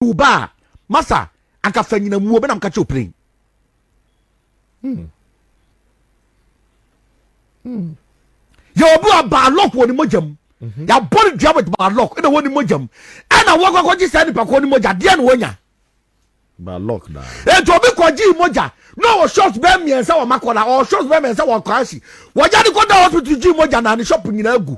wo ba a masa anka fa nyina mu ɔbɛnam ka kyerɛ wo plane hmm. hmm. yɛ obi a baalɔk wɔ ne mogya mu mhm. yɛabɔ no dua with baalɔk ɛna wɔ ne mogya mu ɛna wɔkɔkɔgye saa nipa kɔ ne mogya deɛ na wɔnya eti obi kɔgye mogya na ɔwɔ shops bɛɛ mmiɛnsa wɔ makɔla ɔwɔ shops bɛɛ mmiɛnsa wɔ kwaasi wɔgya de kɔda hospital gye mogya na ne shop nyinaa gu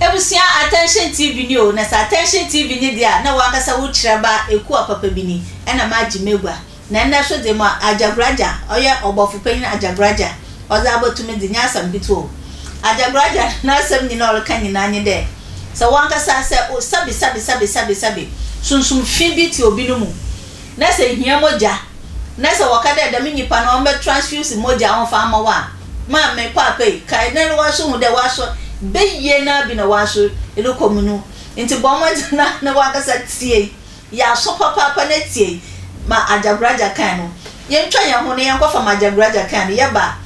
Ebusua Attention TV ni o, na sɛ Attention TV ni de a, na w'ankasa wo kyerɛba Ekua papa bi ni, ɛna m'agye m'agua. Na nnɛ so de ma Agyagoragya, ɔyɛ Ɔbɔfo Panyin Agyagoragya, ɔdze abɔto me dze, nnyɛ asɛm ketsewa o. Agyagoragya n'asɛm nyina a ɔreka nyina nye dɛ, sɛ w'ankasa sɛ o, sabi sabi sabi sabi sabi, sunsum fi bi tse obi no mu, na sɛ ihia mogya, na sɛ wɔka dɛ dɛm nyimpa no ɔmbɛ transfuse mogya ɔmfa mma wo a, maa me paapa yi, kae na erohwɛ so hu dɛ w'aso beyie no ara bi na w'aso rokɔ mu no. Ntsi bɔ mbɔdzen na na wankasa tsie, yɛ aso papaapa na tsie ma Agyagoradza kan no. Yentwa hɛnho na yɛnkɔfa ma Agyagoradza kan no, yɛba a,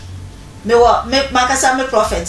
mowɔ me mankasa me prɔfɛt.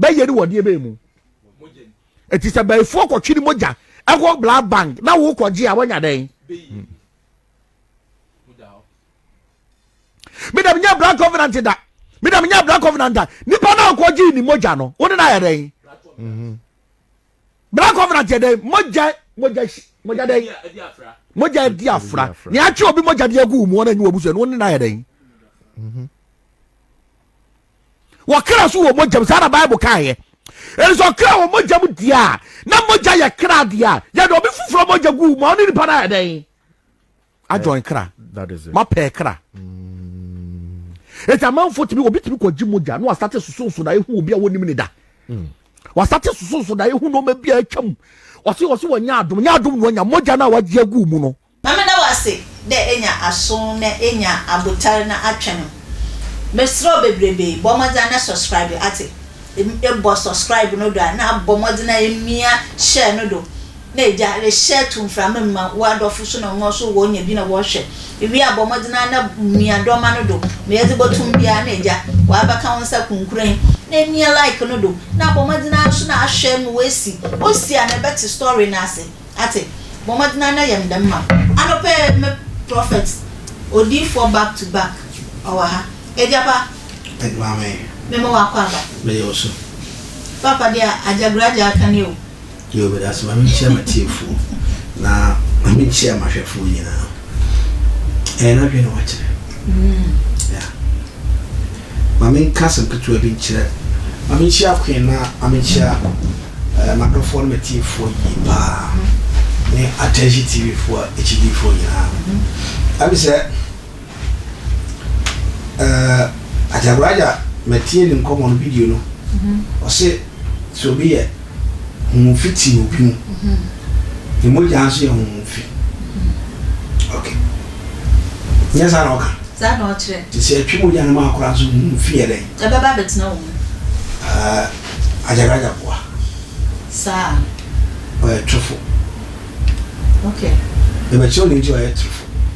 bɛyɛ ne wɔdeɛ bɛyɛ mu ɛti sɛ bɛyifoɔ kɔtwe ne mogya ɛwɔ blood bank na wokɔgye a wɔnya dɛn meda menyɛ blood covenant da meda menyɛ blood covenant da nipa na ɔkɔgye ne mogya no wo ne no ayɛ dɛn mhm. blood covenant yɛ dɛn mogya mogya mogya dɛn mogya di afra nea atwe obi mogya de agu mu wɔn anyi wɔ busua no wo ne no ayɛ dɛn mhm. wɔkra nso wɔ mogyam saa na bible kaeɛ ɛne sɛ ɔkra wɔ mogyam deɛ a na mogya yɛ kra deɛ a yɛde ɔbi foforɔ mogya gu ma ɔne nipa no ayɛ dɛn adwɔn kra mapɛɛ kra ɛti amanfoɔ tumi obi tumi kɔgye mogya na wasate sosonso na ɛhu obi a wɔnim ne da mm. wasate sosonso na ɛhu nɔɔma bi a atwa mu ɔse ɔse wɔnyɛ adom nyɛ adom na wanya mogya no a wagye agu mu no Ma meda wo ase dɛ enya aso na enya abotar na atwɛn no. Meserɛ wo beberebe, bɔ mbɔdzen na subscribe atse. Ebɔ subscribe no do a na abɔ mbɔdzen a emia share no do na egya rehyɛ to mframa mu ma w'adɔfo so na hɔn so wonya bi na wɔhwɛ. Iwie a bɔ mbɔdzen ara na mia dɔma no do ma edze botum biara na egya w'abɛka wo nsa kunkurenn na emia like no do na abɔ mbɔdzen ara so na ahwɛ ma oesi. Osi a na ebɛtse story no ase. Ate? Bɔ mmɔden ara na yɛ me dɛm ma me. Anɔpa yi me prophet odiyifoɔ back to back ɔwɔ ha. Agyapa. Ɛde ma me. Me ma wakɔ aba. Me yɛ ɔso. Papa deɛ agya gura agya aka nie o. Yoo meda ase ma me nkyia matiefoɔ na ma me nkyia mahwɛfoɔ nyinaa. Ɛyɛ n'adwene na wakyerɛ. Mm. Yeah. Ma menka asɛm ketewa bi nkyerɛ. Ma menkyia Queen na ma menkyia eh, m'adɔfoɔ ne m'atiefoɔ yie paa, ne Atɛnhye TV foɔ akyidifoɔ nyinaa. Ɛyɛ me sɛ eh, Agya Raja, matie ne nkɔmmɔ no, video no, ɔse sɛ obi yɛ. Honhom fi te obi mu. Ne mogya nso yɛ honhom fi. Ok. Nyɛ saa na ɔka? Saa na ɔkyerɛ. Te sɛ ɛtwe mogya no ma akora nso honhom fi yɛ dɛn? Ɛbɛba abɛtena wo mu. Uh, Agyaraja boa. Saa. Ɔyɛ torofo. Ok. Ɛbɛkyerɛ wo ne nti ɔyɛ torofo.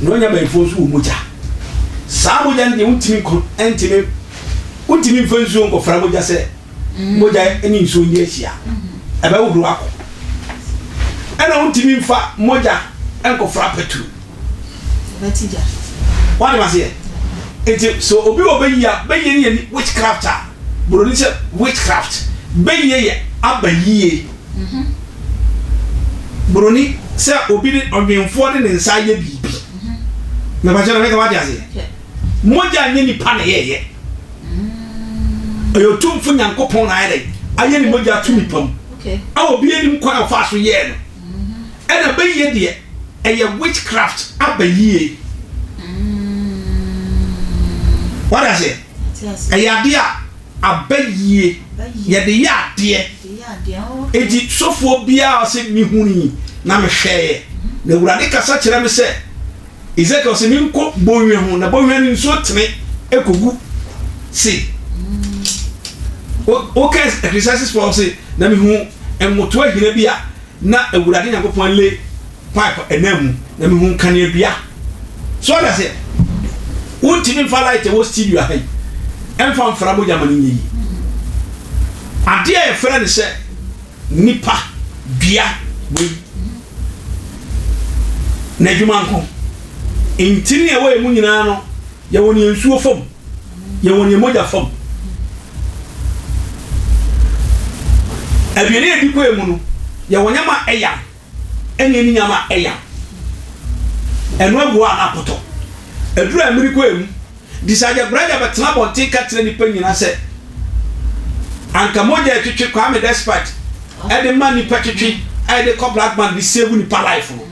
Na ɔnya abayifo nso wɔ mogya. Saa mogya no deɛ wontumi nkɔ ntumi wontumi mfa nsuo nkɔfra mogya sɛ mm. mogya ne nsuo nyɛ ahyia ɛbɛhohoro akɔ ɛna wontumi mfa mogya nkɔfra petro wade maseɛ nti sɛ obi wɔ bɛyia bɛyie no yɛ witchcraft a buroni sɛ witchcraft bɛyie yɛ aba yie Buroni, sɛ obi de ɔdwenfoɔ de ne nsa ayɛ biribi. Mepakyɛ no, meka wate aseɛ? Mogya nyɛ nipa na ɛyɛɛyɛ. Ɛyɛ otumfo Nyankopɔn na ayɛ dɛ ayɛ ne mogya ato nipa mu. A obi anim kwan a ɔfaa so yɛɛ no. Ɛna bɛyie deɛ, ɛyɛ witchcraft a bɛyie. Wate aseɛ? Ɛyɛ adeɛ a Aba yie, yɛde yɛ adeɛ. Enti sɔfoɔ biara se, Mehunui, na mehwɛeɛ, na Awurade kasa kyerɛɛ me sɛ, Esekiel, se menkɔ bɔnhwa ho, na bɔnhwa no nsuo tene kɔgu se Woka Ecclesiastes 12 se, Na mehuu nwotoa hina bi a na Awurade Nyankopɔn le. pipe ananmu na mehu nkanea dua so ɔda sɛ wontumi mfa light ɛwɔ studio aha yi ɛmfa mfra mogya ma no nyɛ yi adeɛ a yɛfrɛ no sɛ nipa dua wei na adwuma nko ntini a ɛwɔ yɛ mu nyinaa no yɛwɔ ne nsuo fam yɛwɔ ne mogya fam aduane a ɛdi kɔɛ mu no yɛwɔ nyɛma ɛyam ɛne ani nyama ɛya ɛno ɛboa a na apɔtɔ aduru a ɛmiri kɔ ɛmu disagya bragya bɛtena abɔnten ka kyerɛ nipa nyina sɛ anka mogya ɛtwetwe kwame despite ɛde ma nipa twetwe a ɛde kɔ black man de save nipa life no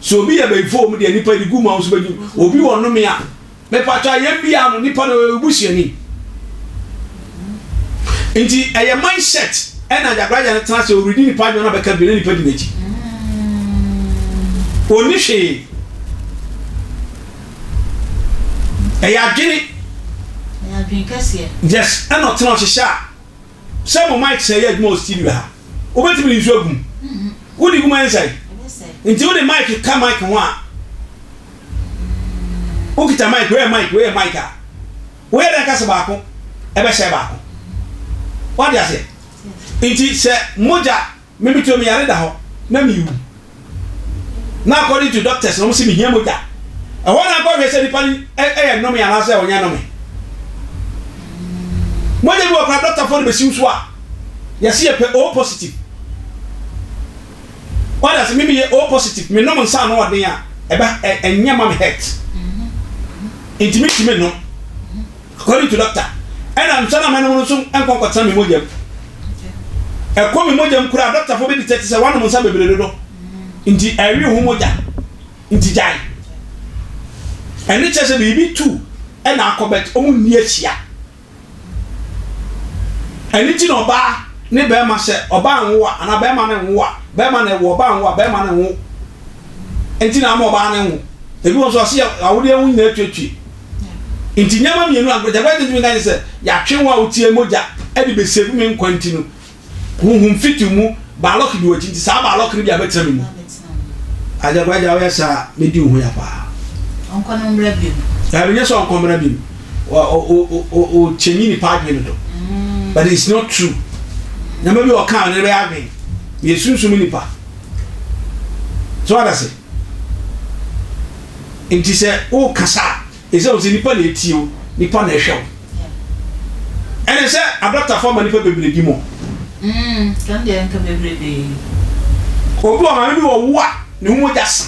so obi yɛ bɛyifo wɔm deɛ nipa ɛde gu mu a wɔso bɛgye obi wɔ nome a Mepakyɛw a yɛn biaa no nipa no ɔyɛ wo busuani nti ɛyɛ mind set ɛna gyagraja no tena sɛ ɔredi nipa adwuma na bɛka bi na nipa di n'akyi ɔni hwee ɛyɛ adwene yes ɛna ɔtena ɔhyehyɛ a Sɛ mo mic sɛe yɛ adwuma wɔ studio ha. Wobɛtumi de nsu agu mu. Wode gu mu a ɛnsɛe? Nti wode mic ka mic ho a, wokita mic, wei yɛ mic, wei yɛ mic a, woyɛ dɛn ka sɛ baako bɛsɛe baako? Wate aseɛ? Nti sɛ mogya. Me me tuo me yare da hɔ na me wu na according to doctors no ɔmo se me hia mogya ɛhɔ na nkɔ hwɛ sɛ nipa no ɛyɛ nnome anaa sɛ ɔnyɛ nnome mogya bi wɔ kora doctor fo de bɛ siw so a yɛse yɛ pɛ o positive wada se me me yɛ o positive me nom nsa ano ɔden a ɛbɛ ɛnyɛ ma me hurt nti me nti me nom. According to doctor ɛna nsa na mɛnom no nso nkɔ nkɔtena me mogya mu. Ɛkɔ me mogya mu koraa doctor fo bɛ detect sɛ wanom nsa bebree dodo nti ɛwe ho mogya nti gyae. Ɛne kyerɛ sɛ biribi tu ɛna akɔ but ɔmo nni ahyia. Ɛno nti na ɔbaa ne bɛɛma sɛ ɔbaa nwo a anaa bɛɛma no nwo a bɛɛma na ɛwo ɔbaa nwo a bɛɛma no nwo. Ɛnti na ama ɔbaa no nwo. Ebi wɔ nso ɔse yɛ awodeɛ ho nyinaa tuetue. Enti nneɛma mmienu a nkurɔfoɔ agye ntumi nka ne sɛ, yɛatwe wɔn a wɔtiee mogya de bɛsave me nkwa nti no, honhom fitiw mu baalɔk di wɔn akyi nti, saa baalɔk no bi a bɛtena me mu. Agya Kwame, agya woyɛ saa a, mɛdi wo ho ya paa. Ɔnkɔ no mmra biom. Daabi, nyɛ sɛ ɔnkɔ mmra biom. Wo change nipa adwene no do. But it's not true. Nneɛma bi a ɔkaa no, ne bɛyɛ adwene. Meyɛ sunsum nipa. So what I say? Nti sɛ worekasa a, ɛsɛ sɛ wo sɛ nnipa na ɛtie wo, nnipa na ɛhwɛ wo. Ɛne sɛ adɔktafo ama nnipa bebredi mo. Mm, kan deɛ nka bebrebee. Obi wɔ maame bi wɔ wo a ne ho mogya sa,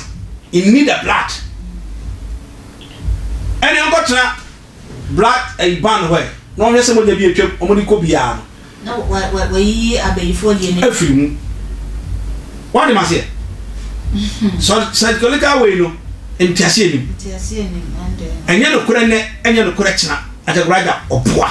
in need the blood. Ɛne nkɔtena. Blood ɛyi ban hɔ ɛ na wɔhwɛ sɛ mogya bi atwam wɔn de kɔ biara no. Na wɔayiyi abayifoɔ deɛ no. Afiri mu. Wate maseɛ? Sɔ psychological wei no nteaseɛ nim. Nteaseɛ nim ɛndɛɛ. Ɛnyɛ nokorɛ nɛ ɛnyɛ nokorɛ kyena. Agyagorɔ agya ɔboa.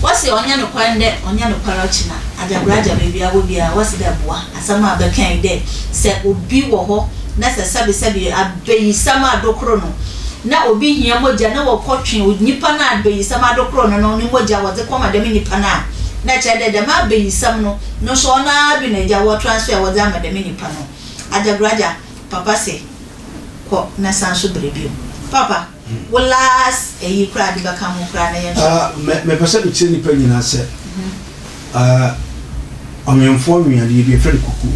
Wɔse ɔnnyɛ nokwar ndɛ, ɔnnyɛ nokwar ɔkyena, agyabragya beebi a ɔwɔ biara wɔse dɛ boa. Asɛm a bɛkã yi dɛ sɛ obi wɔ hɔ na sɛ sɛbesɛbe abayisɛm adokor no na obi hia mogya na wɔkɔtwe nyimpa no a abayisɛm adokor no no ne mogya wɔdze kɔma dɛm nyimpa no a, na kyerɛ dɛ dɛm abayisɛm no no so ɔno ara do na egya wɔ transfer wɔdze ama dɛm nyimpa no. Agyabragya, Papa se kɔ na san so bra bio. Papa. Wo last ɛyi koraa de bɛka ho koraa na yɛnhwɛ. Ah mɛ mɛpɛ sɛ mekyerɛ nipa nyinaa sɛ ah ɔnwemfoɔ nwe adeɛ bi yɛfrɛ no kukuo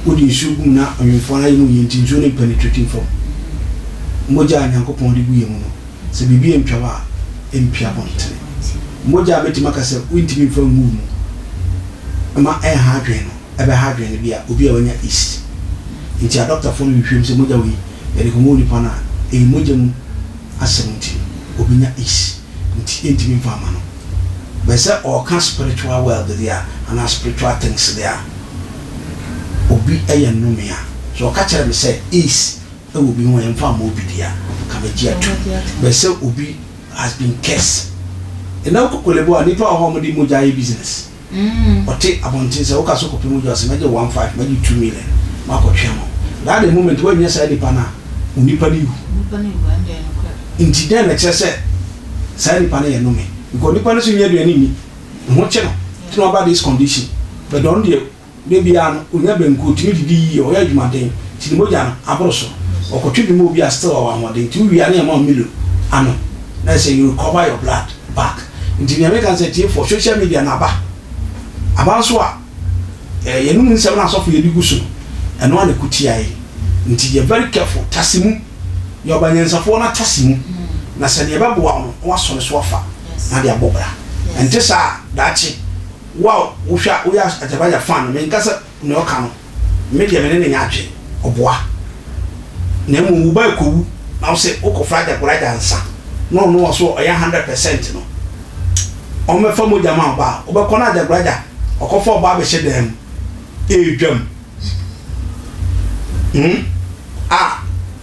wode nsuo gu mu na ɔnwemfoɔ no ayɛ mu yie nti nsuo no mpenetrate fam mogya a Nyankopɔn de gu yɛn mu no sɛ biribi antwa wo a ɛmpi abɔntene mogya a mɛtumi aka sɛ wontumi mfa ngu wo mu mma ɛnha adwene no ɛbɛha adwene no bi a obi a wanya yeast nti a dɔktafo no hwehwɛ mu sɛ mogya wei yɛde kɔma onipa no a ɛyɛ mogya mu asɛm nti no obenya yeast nti yɛntumi mfa mma no. But sɛ ɔreka spiritual world deɛ a anaa spiritual things deɛ a obi yɛ nnome a, sɛ ɔka kyerɛ me sɛ yeast wɔ obi ho a yɛmfa mma obi deɛ a nka mɛgye atom but sɛ obi has been cursed. Ɛnɛ wokɔ Korle Bu a nnipa wɔ hɔ a wɔde mogya yɛ business. Ɔte abɔnten sɛ, woka so kɔpem odwo ase, mɛgye wo one five, mɛgye wo two million, makɔ twɛn no. That the moment woannya saa nipa no a, wo nipa no wu. Nti dɛn na ɛkyerɛ sɛ saa nipa no yɛ nnome? Because nipa no nso nnya aduane nni, ne ho kye no, nti na waba this condition, but ɔno deɛ, Da biara no, onya banku, otumi didi yiye, ɔyɛ adwumaden, nti ne mogya no aboro so. Wɔkɔtwe bi ma obi a still ɔwɔ ahoɔden, nti wowie a na yɛma wo Milo anom, na ayɛ sɛ you recover your blood back. Nti nea meka ne sɛ, atiefoɔ, social media no aba, aba nso a, eh, yɛnom nsɛm no a asɔfo yɛ de gu so no, ɛno ara na ɛko tia yɛn. Nti yɛ very careful, tase mu, yɛ ɔbanyansafoɔ na tase mu, na sɛ nea ɛbɛboa wo no, na woasɔ ne so afa, na ade abɔ bra. Ɛnte saa a, daakye, Wo a wohwɛ a woyɛ agyabagya fã no, menka sɛ nea ɔka no, Me deɛ me ne no nyɛ adwene, ɔboa. Na mmom wo ba rekɔwu na wo se wokɔfrɛ agyagoragya ansa na ɔno a ɔse ɔyɛ hundred percent no ɔmmɛfa mogya mma wo ba a, wobɛkɔ na agyagoragya ɔkɔfa wo ba abɛhyɛ dan mu ɛredwam hmm a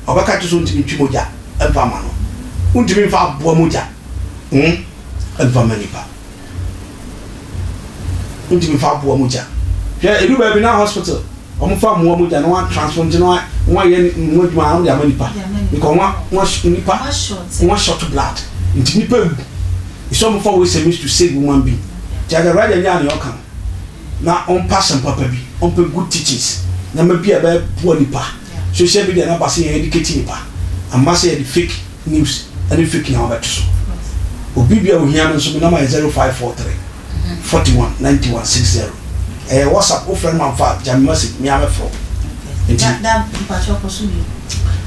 ɔbɛka kyerɛ sɛ wontumi ntwe mogya mfa mma no, wontumi mfa aboa mogya hmm mfa mma nipa. Wodi mi fa boa mogya. Hwɛ edu baabi na hospital wɔn fa mmoa mogya na wɔn atransform nti na wɔn wɔn ayɛ mu adwuma na wɔn de ama nipa because wɔn wɔn nipa wɔn short blood nti nipa ewu nso wɔn fa waste means to save human being nti agya Raja nyaa nea ɔka no na wɔn pa asɛm papa bi wɔn pɛ good teachings nneɛma bi a ɛbɛboa nipa social media na ba sɛ yɛn educate nipa amma sɛ yɛde fake. news ne fake na wabɛto so obi bia ohia no nso me nɔma yɛ zero five four three forty one ninety one six zero ɛyɛ whatsapp wofrɛ no ma mfa a gyame message mea mɛfrɛ wo nti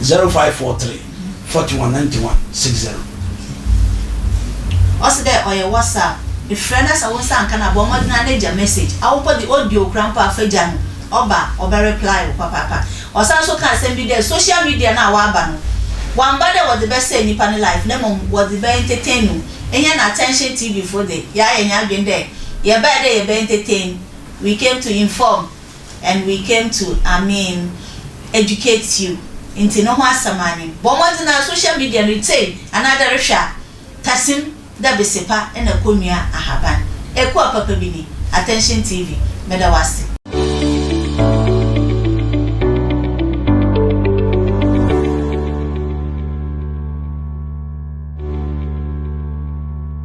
zero five four three forty one ninety one six zero. ɔse dɛ ɔyɛ whatsapp efrɛ na sɛ wo nsa anka no a bɔ mmɔden ara na gya message awopɔ de audio kura mpo a fa gya no ɔba a ɔbɛ reply wo papaapa. Ɔsan so kaa asɛm bi dɛ social media no a ɔaba no, wɔammba dɛ wɔdze bɛsɛɛ nyimpa ne life na mbom wɔdze bɛ entertain no. Hɛn Attention TV fo dze, yɛayɛ hɛn adwen dɛ yɛbae dɛ yɛbɛ entertain, we came to inform and we came to I mean educate you ntsi no ho asɛm anyen. Bɔ mbɔdzen ara social media no etsei anaadɛ erohwɛ a, tasim. Da bese pa na ko nua ahaban. Ekua papa bi ni, Attention TV, meda wo ase.